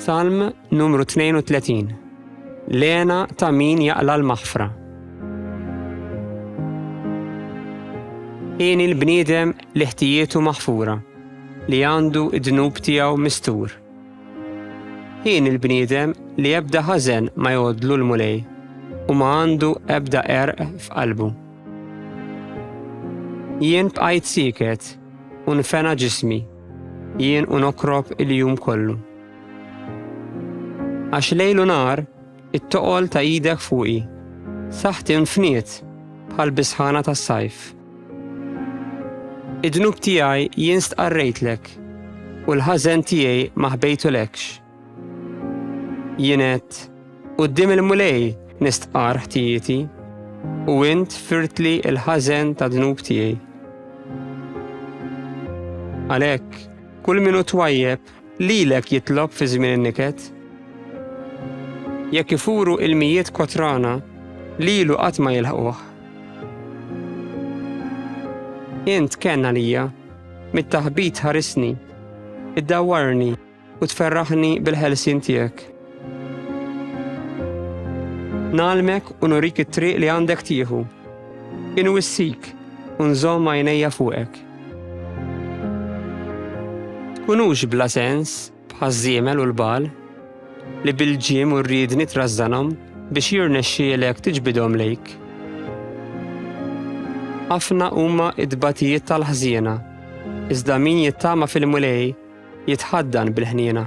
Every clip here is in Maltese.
Salm numru 32 Lena ta' min jaqla l-maħfra. Ieni l-bniedem li ħtijietu maħfura, li għandu id-dnub tiegħu mistur. Ieni l-bniedem li ebda ħażen ma jgħodlu l-mulej u ma għandu ebda erq f'qalbu. Jien bqajt siket u nfena ġismi, jien u nokrob il-jum kollu. Għax lejl u nar, it-toqol ta' idek fuqi, saħti nfniet bħal bisħana tas-sajf. Id-dnub tiegħi jien stqarrejtlek u l-ħażen tiegħi ma ħbejtulekx. Jienet, qudiem il-Mulej nistqar ħtijieti, u int firtli il-ħażen ta' dnub tiegħi. Għalhekk, kull minu twajjeb lilek jitlob fi żmien in-niket. Jekk ifuru il-mijiet kotrana, lilu qatt ma jilħquh. Int kenna lija, mit-taħbit ħarisni, id-dawarni. u tferraħni bil-ħelsien tiegħek. Nalmek u nurik it-triq li għandek tieħu. Inwissik u nżomm għajnejja fuqek. Tkunux bla sens bħaż-żiemel u l-bal li bil-ġim u rridni trażżanhom biex jirnexxielek tiġbidhom lejk. Ħafna huma id-batijiet tal-ħżiena, iżda min jittama fil-mulej Jitħaddan bil-ħniena.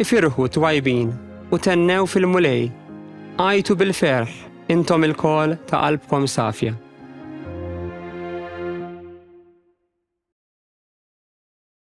Ifirħu twajbin u tennew fil-Mulej, għajtu bil-ferħ intom il-kol ta' qalbkom safja.